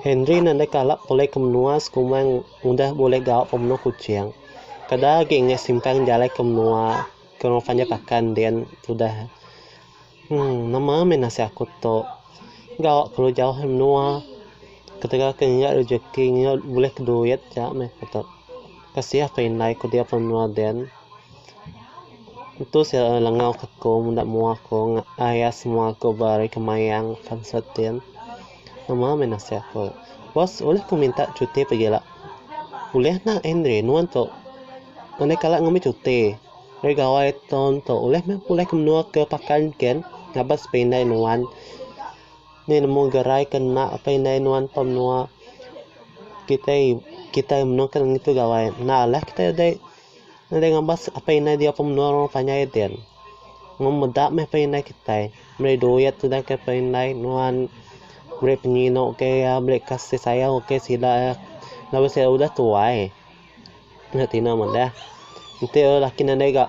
Henry nadai kala pulai ke menua sekuma udah bulih gawa pemenuh Kuching. Kada agi enggai simpang jalai ke menua ke orang panjai pakai endin udah. Hum nama meh nasib aku tu. Gawa kelu jauh ari menua. Ketegal ke ngira rejeki ngira bulih ke duit ja meh aku tu. Kasih aku indai ku diau pan menua den. Entu sia lalu langau ke aku menda mua aku ayas mua aku ba ari ke mayang pan sut den. Nama meh nasib aku. Bos ulih ku minta cuti pagila. Ulih enda Henry nuan tu. Andai kala ngambi cuti. Ari gawai taun tu ulih meh aku ke menua ke pakai enken ngabas ba indai nuan nya nemu gerai ke enda apai indai nuan pa menua kitai kitai meno ke ngitu gawai enda lah kitai dei dei ngabas apai indai diau pa menua orang panjai din mun meda meh apai indai kitai meri duit sida ke apai indai nuan meri penyino ke iya meri kasih sayau ke sida iya lalu sida udah tuai. Nya Tina madah. Enti orang lelaki nadai ga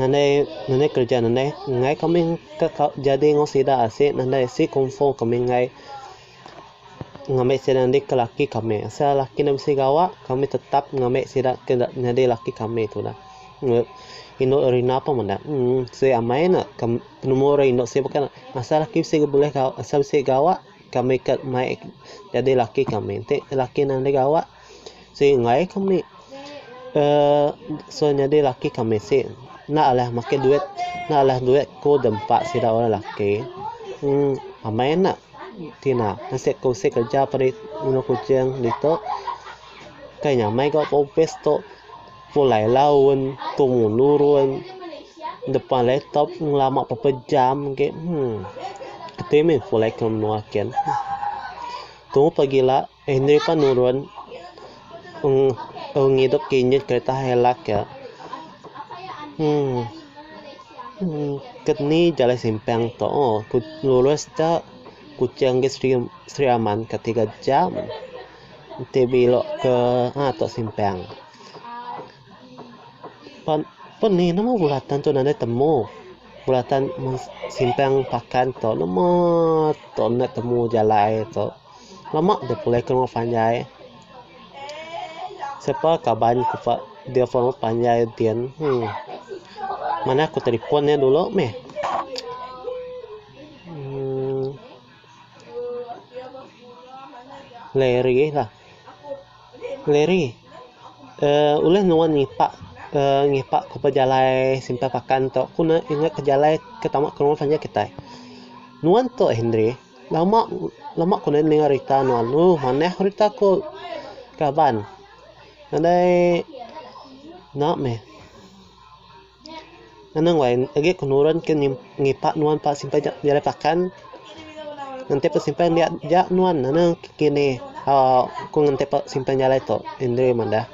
nadai nadai kereja nadai enggai kami ka ka jadi enggau sida asi nadai asi kufo kami enggai ngambi sida nya dika laki kami. Asal laki ne bisi gawa kami tetap ngambi sida ke nyadi laki kami tudah. Meh indu Erina pun meda. Em siti amai ne kem penemu orang indu siti baka ne asal laki bisi bulih asal bisi gawa kami ka mai jadi laki kami. Enti laki nadai gawa. Siti enggai ku mih uhh nyadi laki ku mih siti enda alih makai duit enda alih duit ku dempa sida orang laki uhh amai enda tina siti ku siti kerja ngendu kuching ditu kai nya amai ga opis tu pulai laun tu menurun depan laptop ngelama berapa jam agi uhh ati mih pulai ke menua kian tuuh pegila. Henry pan nurun ung ngidup kinyit kereta Hilux ke. Keni jalai simpang tu ku lurus ja Kuching ke Sri Aman ke tiga jam enti bilok ke aa tu simpang. Pan pan ni nama bulatan tu nadai temu. Bulatan mung simpang pakan tu nama tu enda temu jalai tu. Lama deh pulai ke rumah panjai. Siapa kaban ku pa depon rumah panjai din. Heh. Manah ku telefon iya dulu meh. Uhh. Larry lah. Larry. Uhh ulih nuan ngipak uhh ngipak ku pejalai Simpang Pakan tu. Ku ne ingat pejalai ke tama ke rumah panjai kitai. Nuan tu Henry. Lama lama ku ninga rita anu alu manah rita ku kaban nadai nya meh anang wai agi ku nurun ke ngipa nuan pa simpan nya nyadi pakan enti pa simpan nya nya nuan anang kinih aaa ku nganti pa simpan jalai tu indai madah.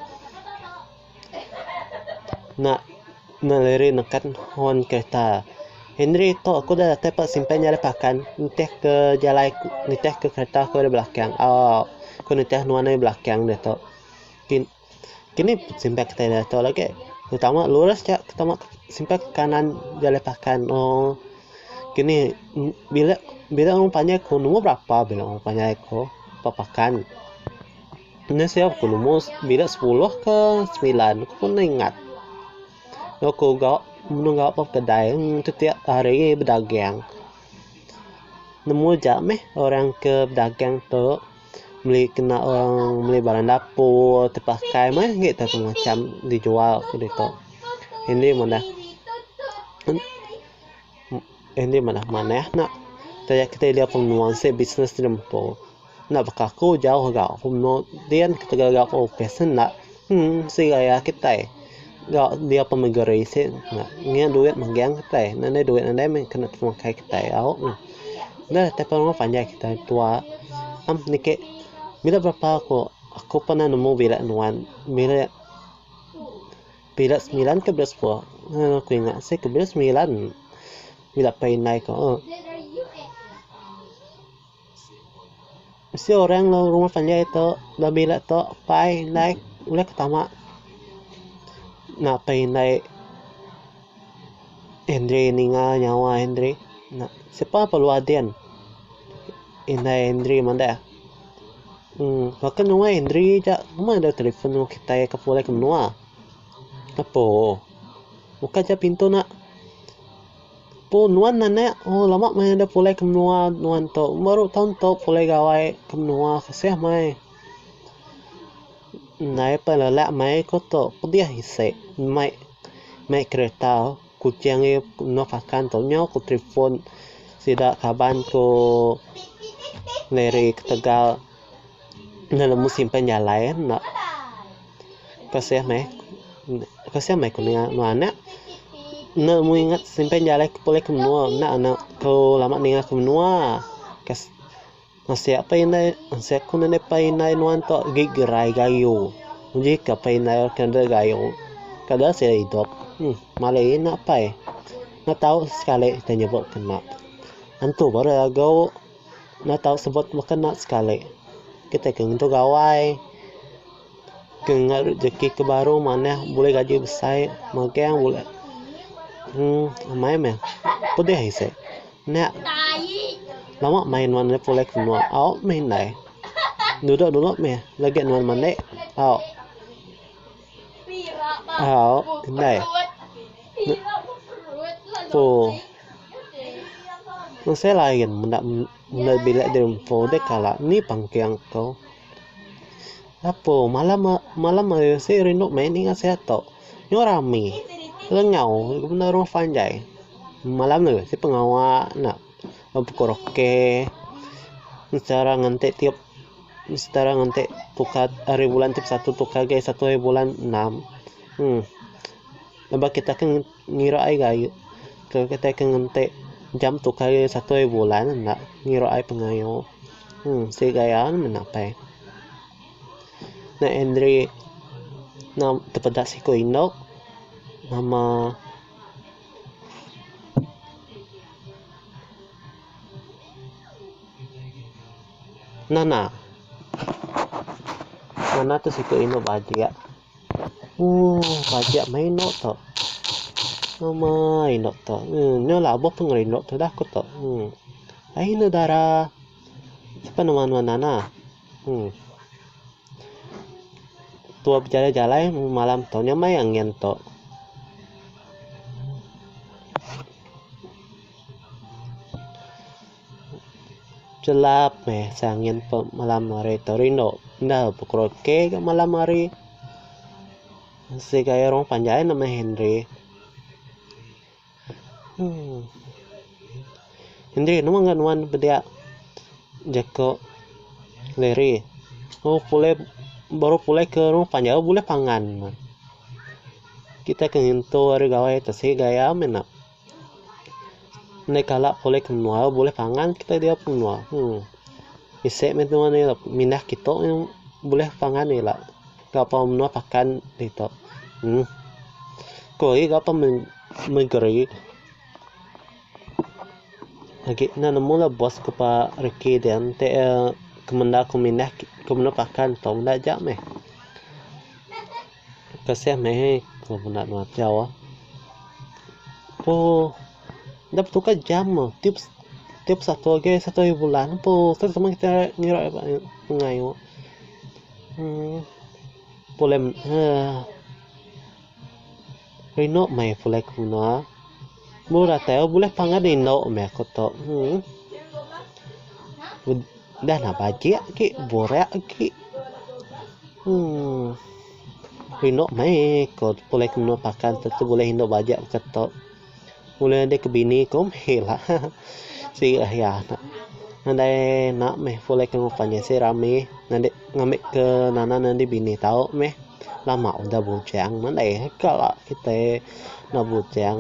Nya ne liri neken horn kereta. Henry tok aku udah datai pak simpan nya ari pakan nitih ke jalai nitih ke kereta aku ari belakang aaa ku nitih nuan ari belakang deh tok. Kin kini simpan kita nya tok legi betama lurus ja betama simpan ke kanan jalai pakan ooh kini bila bila orang panggil aku nombor berapa bila orang panggil aku pak pakan. Nya sia aku nemu bila sepuluh ke semilan aku pun enda ingat. Aku ga menu ga ba kedai tetiap hari bedagang. Nemu ja meh orang ke bedagang tu meli kena orang meli barang dapur, tepakai meh agi tu aku macam dijual ditu. Indi meh dah. Andy manah manah enda. Taja kitai enda pun menua ensek bisnes ti nempu. Enda baka aku jauh ga aku menua din ketegal ga aku opis en enda. Emm sigai a kitai ga dia pun negeri sik enda ngiang duit megang kitai enda anai duit andai meh kena temakai kitai au neh. Neh kitai pun memang panjai kitai tua em niki bila berapa aku aku pernah nemu bilek nuan bilek Pila semilan ke bila sepuluh. Haa aku ingat asai ke bila semilan bila pai indai ku haa. Mesti orang enggau rumah panjai tu enggau bila tu pai indai ulih ke tama enda pai indai Henry ninga nyawa Henry enda. Sepa pelu Adin indai Henry madah. Uhh baka nuan Henry ja meh deh telefon nuan kitai ke pulih ke menua. Apo buka ja pintu nak. Apo nuan anak uhh lama meh deh pulih ke menua nuan tu baru taun tu pulih gawai ke menua seh meh. Ndai peh lelak meh ku tu pedih isi meh meh kereta. Kuching ri Nok Akan tu nyau ku telefon sida kaban ku Larry ketegal enda nemu simpan jalai enda kasih meh kasih meh ku ninga anu anak enda nemu ingat simpan jalai ke pulih ke menua enda anak ku lama ninga ke menua. Ensek apai indai ensek ku ngagai apai indai nuan tu agei gerai gayu uji ke apai indai ke enda gayu kada sida idup um malai ina apai enda tau sekali ke nyebut kena antu baru lagu enda tau sebut baka kena sekali kitai ke ngentu gawai ke ngenga rejeki ke baru manah bulih gaji besai magang bulih um amai meh pedeh isi. Nya lama main nuan enda pulai ke menua au meh indai. Dudok dulu meh legi nuan mandi au au indai empu masih lain menda bilik di empu deh kala ni pangking ko. Apo malam malam hari sik rindu meh ninga si atok. Nyau rami. Lengau ke bendar rumah panjai. Malam agi si pengawa enda bepukul roke. Setara ngenti tiup setara ngenti tukar ari bulan tiap satu tukar agi satu ari bulan enam. Em. Laban kitai ke ngira ai gaie ke kitai ke ngenti jam tu kali satoi bulan enda ngira ai pengayo. Hum siti gaya ne menda apai. Nya Henry enda tepeda siku indu nama Nana. Nana tu siku indu bajik. Ooh bajak meh inok to. Amai inok to. Nya laboh pun ngaran inok to dah ko to. Aih enda dara sapa nama nuan nana. Uhh tua bejalai jalai meh malam to nya meh angen to. Chelap meh sang nyin pe malam hari tu rindu enda bekerut ke gak malam hari segai orang panjai nama Henry emm Henry nama ngagai nuan pediak jako Larry oh pulai baru pulai ke orang panjai oh buleh pangan kita ke ngintu ari gawai tu segai ame nak. Andai kala pulih ke menua bulih pangan kita ida ke menua uhh bisi meh nuan ira mindah kitu bulih pangan ira ga pa menua pakan ditu uhh ko agi ga pa negeri agi enda nemu la bos ko pa reki dian ti iya kemenda ko mindah ko menua pakan tu enda ja meh. Kasih meh ai ku benda tu achaw ah. Empu enda betukar jam ah. Tiup tiup satu agi satu agi bulan empu terus sama kita ngira ba ngayu. Uhh pulih uhh rindu meh pulih ke menua. Murah tai oh bulih pangah da indu meh aku tu uhh udah nah bajik agi burak agi uhh indu meh ku pulai ke menua pakan tu bulih indu bajik ke tu bulih nadai ke bini ku meh ila sida ahi anak nadai enda meh pulai ke ngeban nya sida rami ngambi ke nanan andi bini tau meh. Lama udah bujang melei kala kitai enda bujang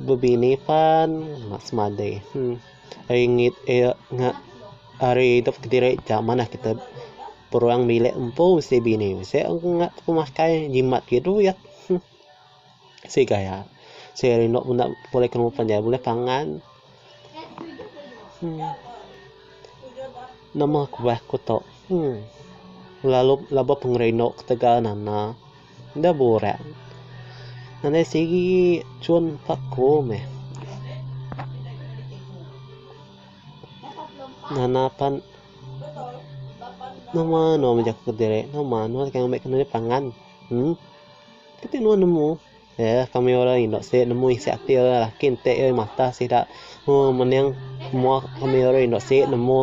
bebini pan enda semadi ringit eye ngak ari idup kediri cha manah kitai peruang bilik empu mesti bini mesti ngak pemakai jimat duit. Sigai a. Seh ari enda menda bulih ke nemu panjai bulih pangan. Em. Nama kubah ku tu. Em. Lalu labuh pengerindu ketegal nanda. Enda burak. Nadai sigi cun pak ku meh. Nanda pan nama anu ami jaku diri. Nama anu deka ngambika diri pangan. Em. Keti nuan nemu? Yeh, kami orang indu sik nemu isi ati orang laki enti ai mata sida mung mening mua kami orang indu sik nemu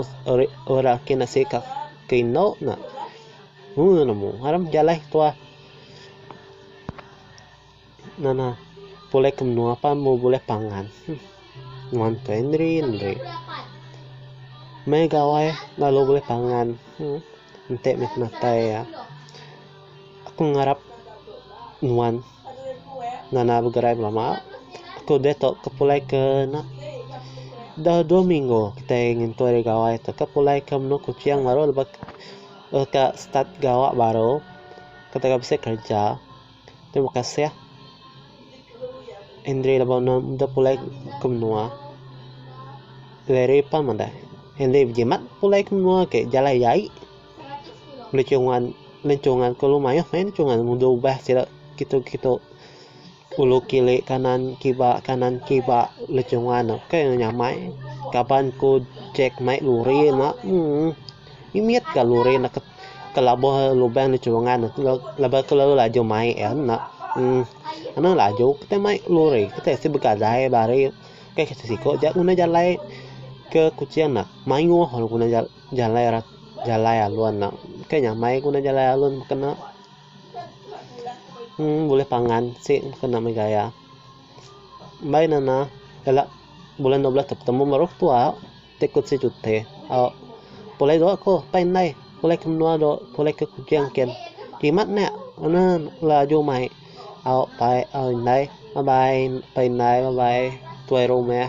orang laki enda sik ke indu nya. Mung nuan nemu? Aram pejalai ke tuah. Nya nah pulai ke menua pan meh bulih pangan. Nuan tu ai neri-neri. Mei gawai lalu bulih pangan. Enti meh matai iya, aku ngarap nuan ngena begerai belama. Aku deh tu ke pulai ke ena dah dua minggu kitai ngintui ari gawai tu ke pulai ke menu Kuching baru lebuh ka start gawa baru. Aku tengah bisi kereja. Terima kasih Andri laban enda meda pulai ke menua. Larry pan meda. Andri bejimat pulai ke menua ke jalai jai. Lechungan lechungan kulu mayuh main lechungan ngundi ubah sida kitu-kitu ulu kili kanan kiba kanan kiba lechungan ne. Kai nyamai kaban ku Jack mai lori ena. Emm. Mimit ga luri enda ke labuh lubang di churungan tu laban ke lalu laju mai iya enda uhh anu laju kitai mai luri kitai si begadai bari kai ke siko ja guna jalai ke kuching nya mayuh lalu guna jalai ra jalai alun nya kai nyamai guna jalai alun baka nya uhh bulih pangan si baka nya mih gaya mbai ne na jalak bulan dua belas tu betemu maruh tua. Ti ku si Juti, Au, pulai dua ku pai indai, pulai ke menua dua, pulai ke Kuching kin. Kimet nya, anu laju mai. Au pai, au indai. Bye bye pai indai, bye bye tuai rumah.